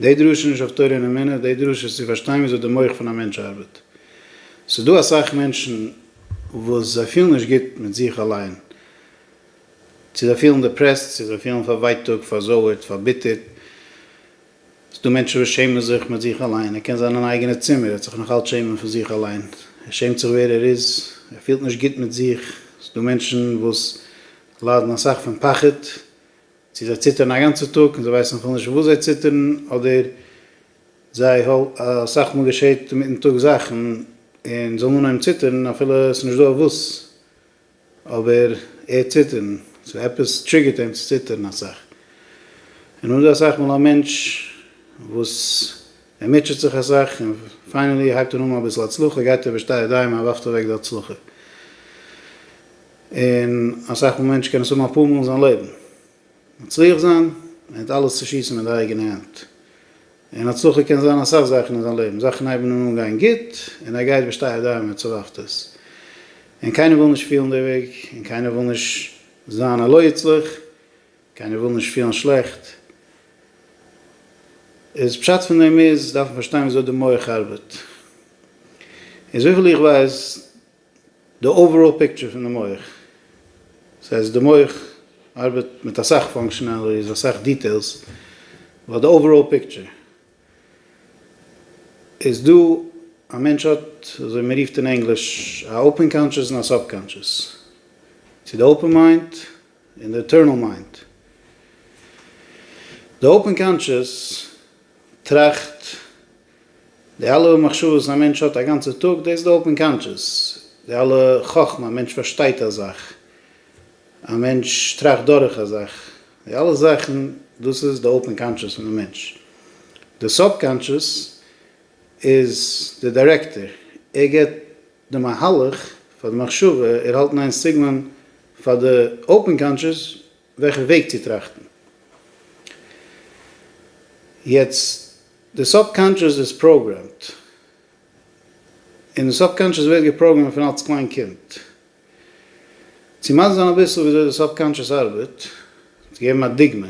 די דרשה איז נישט אויף תורה און אמונה, די דרשה איז צו פארשטיין וויאזוי די מח פון א מענטש ארבעט. ס'איז דא אסאך מענטשן וואס זיי פילן נישט גוט מיט זיך אליין, צו זיי פילן דעפרעסט, צו זיי פילן פארווייטאגט, פארזויערט, פארביטערט. ס'דא מענטשן וואס שעמען זיך מיט זיך אליין, ער קען זיין אין אייגענע צימער, ער וועט זיך נאכאלץ שעמען פון זיך אליין, ער שעמט זיך ווער ער איז, ער פילט נישט גוט מיט זיך, ס'דא מענטשן וואס ליידן אסאך פון פחד. צו זיי ציטערן א גאנצע טאג און זיי ווייסן אפילו נישט וואס זיי ציטערן, אדער זיי האל אסאך מאל געשעט אינמיטן טאג זאכן און זאלן אנהויבן ציטערן אפילו עס איז נישט דא אויף וואס, אבער ער ציטערן, סאו עפעס טריגערט אים צו ציטערן אסאך. און אזוי אסאך מאל א מענטש וואס ער מוטשעט זיך אסאך און פיינעלי הייבט אן האבן אביסל הצלחה גייט ער בשתי ידיים און ווארפט אוועק די הצלחה. און אסאך מאל מענטש קען עס האבן אפאר מאל אין זיין לעבן, מצליח זיין מיט אלעס צו שיסן מיט די אייגענע הענט, און הצלחה קען זיין אסאך זאכן אין זיין לעבן, זאכן הייבן אים אן גיין גוט, און ער גייט בשתי ידיים וצלחת עס, און קיינער וויל נישט פילן די וועג, און קיינער וויל נישט זיין א לא יצלח, קיינער וויל נישט פילן שלעכט, איז פשט פון דעם איז דארף מען פארשטיין ווי אזוי די מח ארבעט, איז וויפיל איך ווייס, די אוועראל פיקטשער פון די מח, דאס הייסט די מח ארבעט מיט אסאך פאנקשענעליטיס, אסאך דיטעילס, באט די אוועראל פיקטשער איז דא, א מענטש האט אזוי מען רופט אין ענגליש א אפען קאנטשעס און א סאב קאנטשעס, צו די אפען מיינד און די עטערנעל מיינד, די אפען קאנטשעס טראכט די אלע מחשבות א מענטש האט א גאנצע טאג דאס איז די אופן קאנטשעס, די אלע חכמה א מענטש פארשטייט א זאך, א מענטש טראכט דורך א זאך, די אלע זאכן דאס איז די אופן קאנטשעס פון די מענטש. די סוב-קאנטשעס איז די דירעקטער, ער גיבט די מהלך פאר די מחשבה, ער האלט ניין סיגנאלן פאר די אופן קאנטשעס, וועלכן וועג צו טראכטן. יעצט, די סובקאנטשעס איז פראגרעמד, און די סובקאנטשעס ווערט געפראגרעמד פון אלס קליין קינד. צו מסביר זיין אביסל וויאזוי די סובקאנטשעס ארבעט, צו געבן א דוגמא,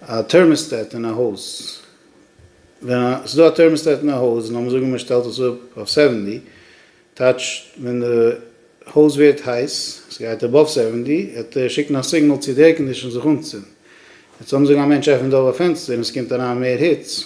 א טערמאסטעט אין א הויז, ווען ס'איז דא א טערמאסטעט אין א הויז, לאמיר זאגן מ'שטעלט עס אפ אויף סעווענטי, טייטש, ווען די הויז ווערט הייס, עס גייט אבאוו סעווענטי, וועט ער שיקן א סיגנאל צו די עיר קאנדישאן זיך אנצינדן. יעצט לאמיר זאגן א מענטש עפנט אויף א פענסטער און עס קומט אריין מער היץ,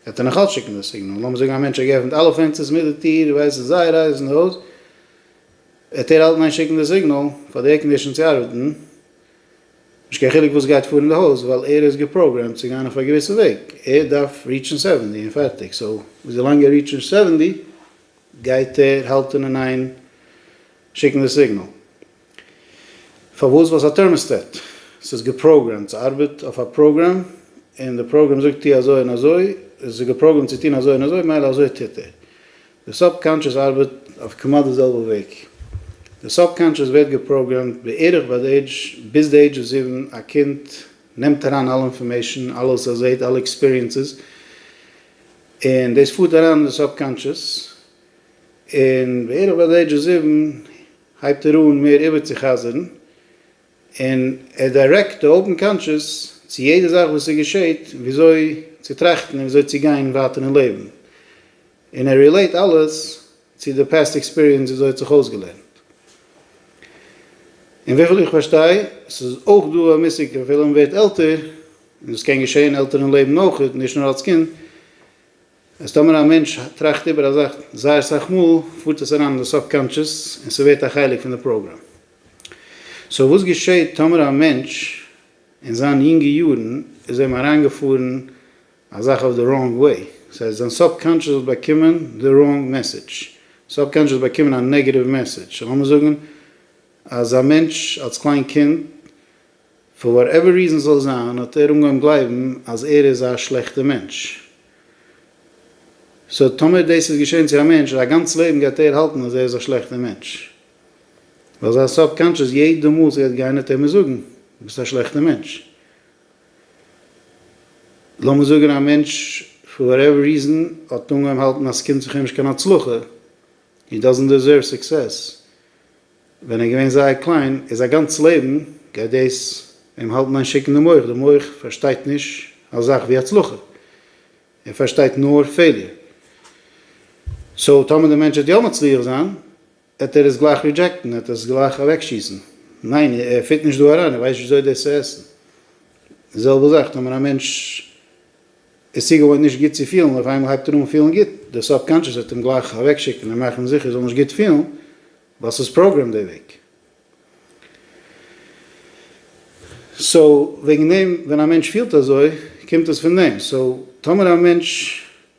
וועט ער נאך אלץ שיקן די סיגנאל. לאמיר זאגן א מענטש האט געעפנט אלע פענסטערס מיט די טיר, ווייסט עס איז זייער הייס אין די הויז, וועט ער אלטמאל שיקן די סיגנאל פאר די עיר קאנדישאן צו ארבעטן. נישט קיין חילוק וואס גייט פאר אין די הויז ווייל ער איז געפראגרעמט צו גיין אויף א געוויסע וועג, ער דארף ריטשן סעווענטי און פערטיג, סאו וויזילאנג ער ריטשט נישט סעווענטי גייט ער האלטען אין איין שיקן די סיגנעל, פארוואס ווייל ס'איז א טערמעסטעט, ס'איז געפראגרעמט, ס'ארבעט אויף א פראגרעם און די פראגרעם זאגט טוה אזוי און אזוי, עס איז געפראגרעמט צו טון אזוי און אזוי מילא אזוי טוט ער, די סובקאנטשעס ארבעט אויף כמעט די זעלבע וועג. די סובקאנטשעס ווערט געפראגרעמט בערך ביי די עידזש, ביז די עידזש זיבן, א קינד נעמט אריין אלע אינפארמעישן, אלע וואס ער זעהט, אלע עקספיריענסעס, און דאס פארט אריין אין די סובקאנטשעס, און בערך ביי די עידזש זיבן הייבט ער אן מער איבערצוחזר'ן, און ער דיירעקט די אויבן קאנטשעס צו יעדע זאך וואס ס'געשעהט, וויאזוי צו טראכטן און וויאזוי צו גיין ווייטער אין לעבן. און ער רילעיט אלעס צו די פעסט עקספיריענס וויאזוי ער האט זיך אויסגעלערנט. און וויפיל איך פארשטיי ס'איז אויך דא א מושג אפילו מען ווערט עלטער, און עס קען געשען עלטערן לעבן אויך נישט נאר אלס קינד, אז טאמער א מענטש טראכט איבער א זאך זייער אסאך מאל פארט עס אריין אין די סאבקאנטשעס און ס'ווערט א חלק פון די פראגראם. סאו וואס געשעט טאמער א מענטש אין זיין יונגע יארן איז אים אריינגעפארן א זאך אויף די ראנג וועי, סאיז אז דיין סאבקאנטשעס האט באקומען די ראנג מעסעדזש, סאבקאנטשעס האט באקומען א נעגעטיוו מעסעדזש, לאמיר זאגן אז א מענטש אלס קליין קינד פאר וואט עווער ריזען סזאל זיין האט ער אנגעהויבן גלייבן אז ער איז א שלעכטע מענטש, סאו טאמער דאס איז געשען צו א מענטש איז א גאנץ לעבן גייט ער האלטן אז ער איז א שלעכטע מענטש, ווייל זיין סאבקאנטשעס יעדע מאל סגייט גיין וועט ער מיר זאגן ביסט א שלעכטע מענטש, לאמיר זאגן א מענטש פאר וואטעווער ריזען האט אנגעהויבן האלטן אז סקומט זיך אים נישט קיין הצלחה, הי דאזענט דעזערוו סוקסעס, ווען ער איז געווען זייער קליין, איז זיין גאנץ לעבן גייט דאס אים האלטן איין שיק אין די מח, די מח פארשטייט נישט א זאך ווי הצלחה, ער פארשטייט נאר פעיליער, סאו טאמער די מענטש וועט יא מצליח זיין עט ער עס גלייך רידזשעקטן, ער וועט עס גלייך אוועקשיסן, ניין ער פיט נישט דא אריין, ער ווייסט נישט וויאזוי דאס צו עסן, די זעלבע זאך טאמער א מענטש איז צוגעוואוינט נישט גוט צו פילן און אויף איינמאל הייבט ער אן פילן גוט, די סוב קאנטשעס וועט אים גלייך אוועקשיקן און מאכן זיכער ער זאל נישט גוט פילן ווייל ס'איז פראגרעמד דער וועג. סאו וועגן דעם ווען א מענטש פילט אזוי קומט עס פון דעם, סאו טאמער א מענטש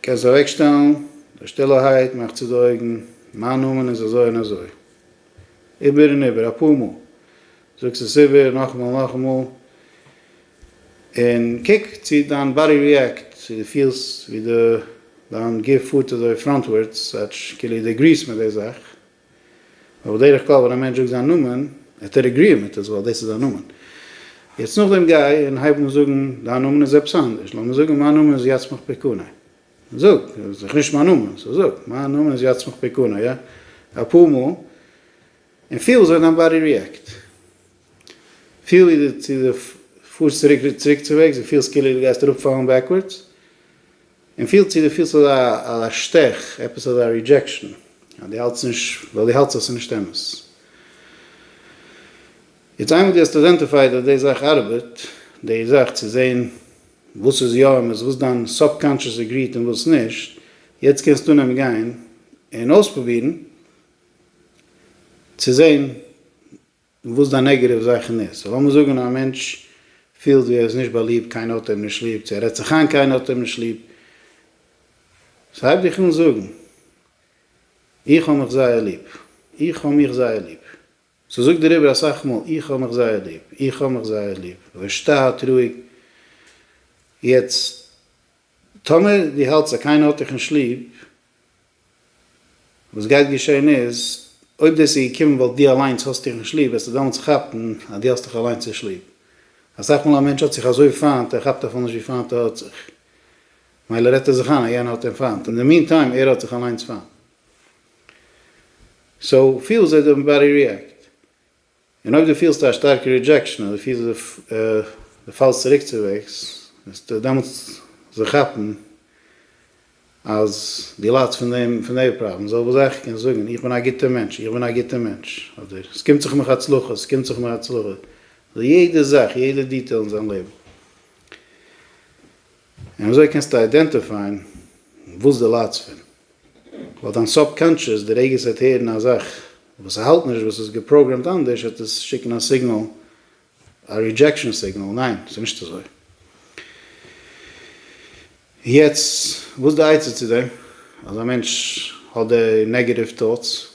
קענסט אוועקשטעלן די שטילערהייט, מאך צו די אויגן, מיין נאמען איז אזוי און אזוי. איבער און איבער, אפאר מאל, זאגסט עס איבער, נאכאמאל און נאכאמאל, און קוק צי דיין באדי ריעקט, צי דו פילסט ווי דיין גוף פארט אזוי פראנטווארדס, כאטש כאילו דו עגריסט מיט די זאך, אבער בדרך כלל ווען א מענטש זאגט זיין נאמען, העט ער אגריען מיט עס ווייל דאס איז זיין נאמען. יעצט נאכדעם גיי און הייב אן זאגן דיין נאמען איז עפעס אנדערש, לאמיר זאגן מיין נאמען איז יצמח פיקוני. זאג, איז דאך נישט מיין נאמען, סאו זאג, מיין נאמען איז יצמח פיקוני יא? אפאר מאל, און פיל וויאזוי דיין באדי ריעקט. פיל ווי די צו די פארסט צוריק צוריקצווועגס, די פילסט כאילו די גייסט אראפ פאלן בעקווארדס, און פילט צו דו פילסט אזא א שטעך, עפעס אזא רידזשעקשן, אז דו האלטסט נישט, ווייל דו האלטסט אז ס'איז נישט אמת. יעצט איינמאל דו האסט איידענטיפייד אז די זאך ארבעט, די זאך צו זען וואס איז יא אמת, וואס דיין סוב-קאנטשעס עגריט און וואס נישט, יעצט קענסטו אנהייבן גיין און אויספרובירן צו זען, און וואס די נעגעטיוו זאכן איז. סאו לאמיר זאגן א מענטש פילט ווי ער איז נישט באליבט, קיינער האט אים נישט ליב, צו ער רעדט זיך איין קיינער האט אים נישט ליב. סאו הייב דיך אן זאגן, איך האב מיך זייער ליב, איך האב מיך זייער ליב. סאו זאג דיר איבער אסאך מאל, איך האב מיך זייער ליב, איך האב מיך זייער ליב. ווער שטארק, רואיג. יעצט, טאמער דו האלטסט אז קיינער האט דיך נישט ליב, וואס גייט געשען איז, אויב דאס איז געקומען ווייל דו אליינס האסט איר נישט ליב, וועסטו דעמאלטס כאפן אז דו האסט דיך אליינס נישט ליב. אסאך מאל א מענטש האט זיך אזוי פיינט, ער כאפט אפילו נישט ווי פיינט ער האט זיך. מילא רעדט ער זיך איין אז יענער האט אים פיינט, אין די מין טיים ער האט זיך אליינס פיינט. סאו, פיל זיי די באדי ריעקט. און אויב דו פילסט א שטארקע רידזשעקשאן אדער פילסט ווי דו פאלסט צוריק צוועגס, וועסטו דעמאלטס זיך כאפן אז דו ליידסט פון דעם, פון די פראבלעם. זאל וואס זיך קען זאגן, איך בין א גוטער מענטש, איך בין א גוטער מענטש, אדער עס קומט זיך מיך הצלחה, עס קומט זיך מיר הצלחה, אדער יעדע זאך, יעדע דיטעל אין זיין לעבן. און אזוי קענסטו איידענטיפייען וואס דו ליידסט פון, ווייל דיין סאבקאנטשעס די רגע עס וועט הערן א זאך וואס ס'האלט נישט וואס איז געפראגרעמט אנדערש וועט עס שיקן א סיגנאל, א רידזשעקשאן סיגנאל, ניין ס'איז נישט אזוי. יעצט וואס די עצה צו דעם אז א מענטש האט די נעגעטיוו טאטס?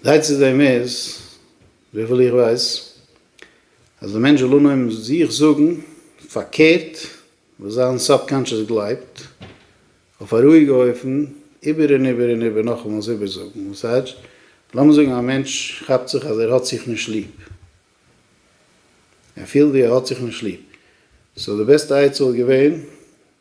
זיי צו דעם איז, וויפיל איך ווייס, אז דער מענטש זאל אנהויבן זיך זאגן פארקערט וואס זיין סאבקאנטשעס גלייבט, אויף א רואיגע אופן, איבער און איבער און איבער נאכאמאל עס איבערזאגן. וואס הייטש? לאמיר זאגן א מענטש כאפט זיך אז ער האט זיך נישט ליב. ער פילט ווי ער האט זיך נישט ליב. סאו די בעסטע עצה וואלט געווען.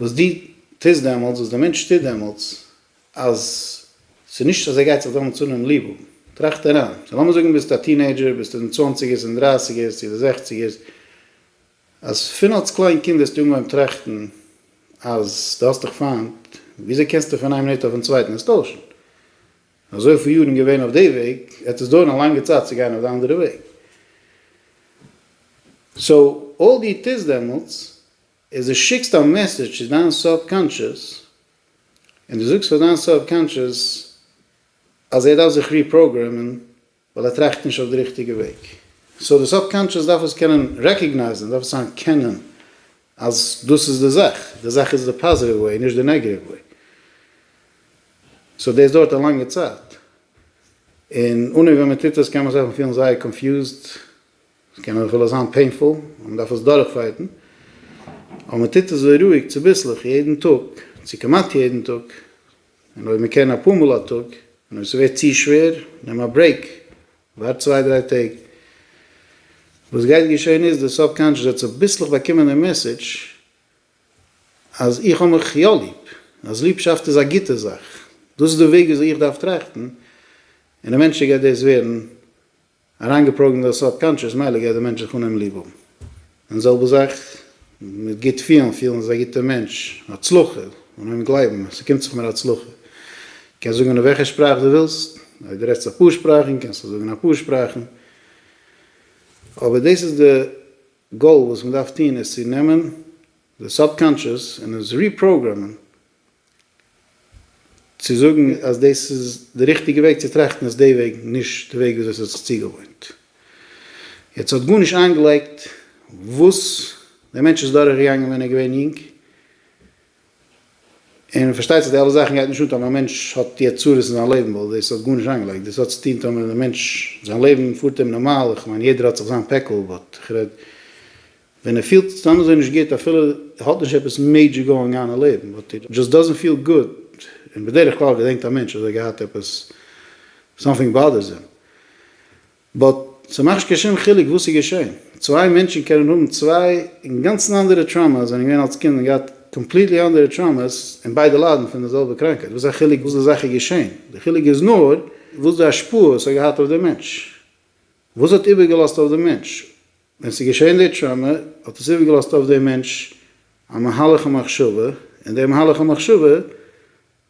וואס דו טוסט דעמאלטס, וואס דער מענטש טוט דעמאלטס, אז ס'איז נישט אז ער גייט זיך דעמאלטס אנהויבן ליב האבן. טראכט אריין, סא לאמיר זאגן ביסט א טינעידזשער, ביסט אין די צוואנציגערס, אין דרייסיגערס, צו די זעכציגערס, אז פון אלס קליין קינד האסטו אנגעהויבן טראכטן אז דו האסט דיך פיינט, וויאזוי קענסטו פון איין מינוט אויפן צווייטן עס טוישן? אזויפיל יארן געווען אויף די וועג, וועט עס דויערן א לאנגע צייט צו גיין אויף די אנדערע וועג. סא אויל דו טוסט דעמאלטס, איז דו שיקסט א מעסעדזש צו דיין סוב-קאנטשעס, און דו זאגסט פאר דיין סוב-קאנטשעס אז ער דארף זיך ריפראגרעמען ווייל ער טראכט נישט אויף די ריכטיגע וועג. סאו די סוב-קאנטשעס דארף עס קענען רעקאגנייזן, דארף עס אנערקענען אז דאס איז די זאך, די זאך איז די פאזיטיוו וועי, נישט די נעגעטיוו וועי. סאו דאס דויערט א לאנגע צייט, און אנהויב ווען מען טוט עס קען מען זיך פילן זייער קאנפיוזד, ס'קען אויך אפילו זיין פעינפול און מ'דארף עס דורכפייטן, אבער מ'טוט עס רואיג צוביסלעך יעדן טאג, צו כמעט יעדן טאג, און אויב מ'קען אפאר מאל א טאג, און אויב ס'ווערט צו שווער, נעם א ברעיק, ווארט צוויי דריי טעג. וואס גייט געשען איז, די סובקאנטשעס וועט צוביסלעך באקומען דעם מעסעדזש אז איך האב מיך יא ליב, אז ליבשאפט איז א גוטע זאך, דאס איז די וועג וויאזוי איך דארף טראכטן, און עווענטשעלי גייט דאס ווערן. אריינגעפראגרעמט דאס סאב קאנטשעס מילא גייט דער מענטש זיך אנהייבן ליב האבן און זעלבע זאך מיט גוט פילן פילן איז א גוטער מענטש הצלחה אנהייבן גלייבן אז ס'קומט זיך מיר הצלחה קענסט זאגן אין וועלכע שפראך דו ווילסט אויב דו רעדסט אפאר שפראכן קענסטו זאגן אפאר שפראכן אבער דאס איז די גאול וואס מ'דארף טון איז צו נעמען די סאב קאנטשעס און עס ריפראגרעמען צו זאגן אז דאס איז די ריכטיגע וועג צו טראכטן איז די וועג, נישט די וועג וויאזוי ס'האט זיך צוגעוואוינט. יעצט האט גארנישט איינגעלייגט וואס דער מענטש איז דורכגעגאנגען ווען ער איז געווען יונג, און פארשטייט זיך די אלע זאכן גייט נישט אן טאמער א מענטש האט יעצט צרות אין זיין לעבן ווייל דאס האט גארנישט איינגעלייגט, דאס האט צוטון טאמער דער מענטש זיין לעבן פארט אים נארמאל, איך מיין יעדער האט זיך זיין פעקל באט איך רעד ווען ער פילט סתם אזוי נישט גוט אפילו ער האט נישט עפעס מעידזשער גאוינג אן אין לעבן באט הי דזשאסט דאזענט פיל גוד און בדרך כלל געדענקט א מענטש אז ער האט געהאט עפעס סאמטינג באדערס אים באט ס'מאכט נישט קיין שום חילוק וואס איז געשען צוויי מענטשן קענען האבן צוויי אינגאנצן אנדערע טראמאס זענען געווען אלס קינד און געהאט קאמפליטלי אנדערע טראמאס און ביידע ליידן פון די זעלבע קראנקייט וואס איז א חילוק וואס די זאך איז געשען די חילוק איז נאר וואס די השפעה עס האט געהאט אויף די מענטש וואס האט איבערגעלאזט אויף די מענטש ווען ס'איז געשען די טראמא האט עס איבערגעלאזט אויף דעם מענטש א מהלך המחשבה, און דער מהלך המחשבה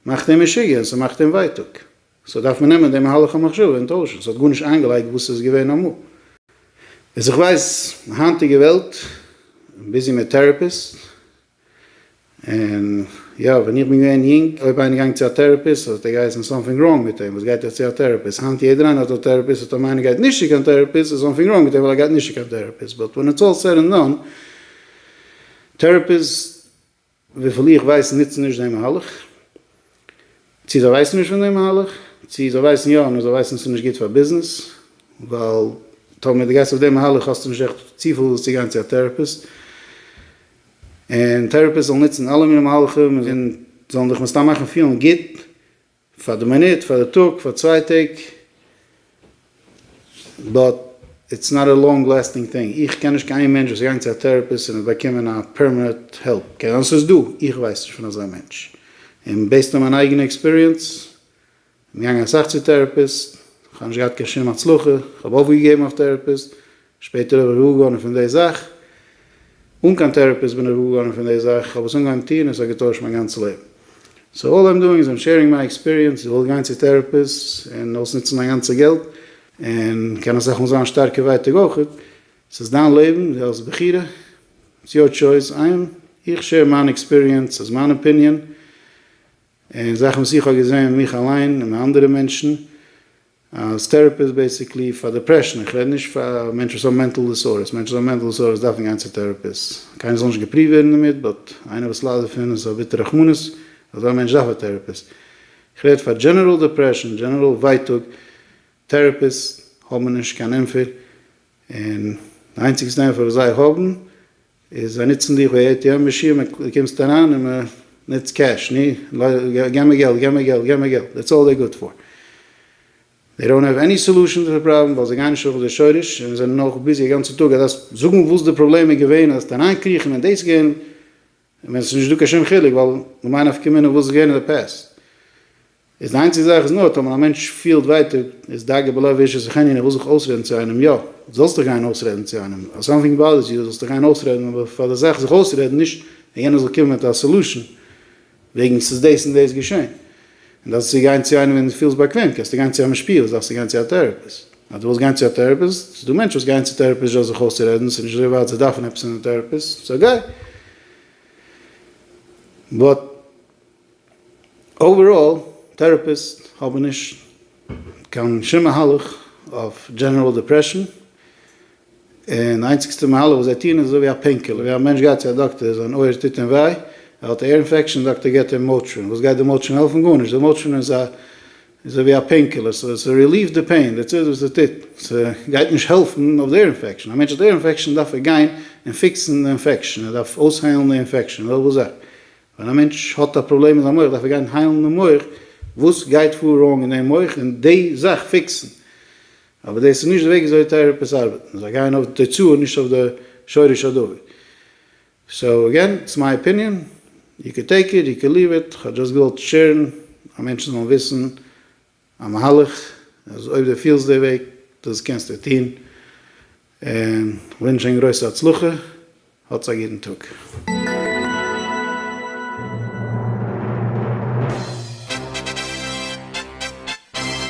מאכט אים משוגע און ס'מאכט אים ווייטאג, סאו דארף מען נעמען דעם מהלך המחשבה און טוישן, ס'האט גארנישט איינגעלייגט וואס ס'איז געווען אמאל. וואס איך ווייס, היינטיגע וועלט, ביזי מיט טעראפיסט, און יא, ווען איך בין געווען יונג, אויב איינער גאנג צו א טערעפיסט, האט ער געהייסן סאמטינג ראנג מיט אים, וואס גייט ער צו א טערעפיסט? היינט יעדער איינער האט א טערעפיסט, אטאמאר איינער גייט נישט צו קיין טערעפיסט, איז סאמטינג ראנג מיט אים ווייל ער גייט נישט צו קיין טערעפיסט. באט ווען איטס אלל סעד ענד דאן, טערעפיסט, וויפיל איך ווייס, נוצן נישט דעם מהלך. צי זיי ווייסן נישט פון דעם מהלך, צי זיי ווייסן יא נאר זיי ווייסן ס'נישט גוט פאר ביזנעס, ווייל טאמער דו גייסט אויף דעם מהלך האסטו נישט עכט צופיל וואס צו גיין צו א טעראפיסט, און טעראפיסט זאל נוצן אלע מיני מהלכים און זאלן דיך מסתם מאכן פילן גוט פאר די מינוט, פאר די טאג, פאר צוויי טעג. באט איטס נאט א לאנג לעסטינג טינג, איך קען נישט קיין איין מענטש וואס איז געגאנגען צו א טעראפיסט און האט באקומען א פערמענעט העלפ, קען זיין ס'איז דא, איך ווייס נישט פון אזא מענטש, און בעיסד אן מיין אייגענע עקספיריענס, כ'בין געגאנגען אסאך צו טעראפיסט, כ'האב נישט געהאט קיין שום הצלחה, כ'האב אויפגעגעבן אויף טעראפיסט, שפעטער האב איך געוואר געווארן פון די זאך, אן קיין טעראפיסט בין איך געוואר געווארן פון די זאך, כ'האב עס אנגעהויבן טון און ס'האט געטוישט מיין גאנצע לעבן. סאו אלל איים דואינג איז איים שעירינג מיי עקספיריענס, איך וועל גיין צו טעראפיסט און אויסנוצן מיין גאנצע געלט, און קען אסאך מאל זיין שטארקע ווייטאג אויכעט, ס'איז דיין לעבן, דו האסט בחירה, איטס יור טשויס, איים, איך שעיר מיין עקספיריענס, ס'איז מיין אפיניען, און זאכן וואס איך האב געזעהן מיך אליין און מיט אנדערע מענטשן. אז טעראפי איז בעסיקלי פאר דעפרעשן, איך רעד נישט פאר מענטשן וואס האבן מענטל דיסארדערס, מענטשן וואס האבן מענטל דיסארדערס דארפן גיין צו טעראפיסט, קיינער זאל נישט געפריווט ווערן דערמיט, באט איינער וואס ליידט דערפון איז א ביטער רחמנות, אזא מענטש דארף א טעראפיסט, איך רעד פאר דזשענעראל דעפרעשן, דזשענעראל ווייטאג, טעראפיסט האבן נישט קיין ענפער, און די איינציגסטע ענפער וואס זיי האבן איז זיי נוצן דיך ווי עי טי עם מאשין ווען דו קומסט אריין און מען נוצט קעש ני געב מיר געלט געב מיר געלט געב מיר געלט דעטס אלל זיי גוד פאר זיי דאונט העוו עני סעלושען צו די פראבלעם ווייל זיי גייען נישט אויף די שורש און זענען נאך ביזי א גאנצע טאג אז דארפסט זאגן וואס די פראבלעם איז געווען אז דארפסט אריין קריכן און דאס געלט ווען עס איז נישט דא קיין שום חילוק ווייל למאי נפקא מינה וואס איז געווען אין די פעסט. איז די איינציגע זאך איז נאר טאמער א מענטש פילט ווייטאג איז דאגה בלב איש איז זיך ענין ער וויל זיך אויסרעדן צו איינעם יא זאלסט דיך גיין אויסרעדן צו איינעם אז סאמטינג באדערס יו זאלסט דיך גיין אויסרעדן אבער פאר די זאך זיך אויסרעדן נישט אז יענער זאל קומען מיט א סעלושען וועגן ס'איז דאס און דאס געשען און דארפסט צו גיין צו איינעם ווען דו פילסט באקוועם קענסטו גיין צו א משפיע וואס דארפסטו גיין צו א טעראפיסט אז דו ווילסט גיין צו א טעראפיסט ס'איז דא מענטשן וואס גייען צו טעראפיסט זשאסט זיך אויסצורעדן ס'איז נישט אזוי ווייט זיי דארפן עפעס אין א טעראפיסט סאו גיי באט אוועראל, טעראפיסט האבן נישט קיין שום מהלך אויף דזשענעראל דעפרעשאן, און איינציגסטע מהלך וואס זיי טוען איז אזוי ווי א פעינקילער, ווי א מענטש גייט צו א דאקטער, זיין אויער טוט אים וויי, ער האט א עיר אינפעקשאן, דאקטער געבט אים מאוטרין, וואס גייט די מאוטרין העלפן? גארנישט, די מאוטרין איז אזוי ווי א פעינקילער, ס'רעליווט די פעין, דעטס איט וואס ס'טוט, ס'גייט נישט העלפן אויף די עיר אינפעקשאן, א מענטש האט עיר אינפעקשאן דארף ער גיין און פיקסן די אינפעקשאן, ער דארף אויסהיילן די אינפעקשאן, וועלכע זאך? ווען א מענטש האט א פראבלעם אין זיין מח דארף ער גיין היילן דעם מח, וואס גייט פאר ראנג אין דעם מח און די זאך פיקסן, אבער דאס איז נישט די וועג וויאזוי טעראפיס ארבעטן, זיי גייען אויף די תוצאה נישט אויף די שורש הדבר. סאו אגעין, איטס מיי אפיניען, יו קען טעיק איט, יו קען ליוו איט, כ'האב דזשאסט געוואלט שערן אז מענטשן זאלן וויסן א מהלך אז אויב די פילסט די וועג דאס קענסטו טון און כ'ווינטש ענק גרויסע הצלחה האטס א גוטן טאג.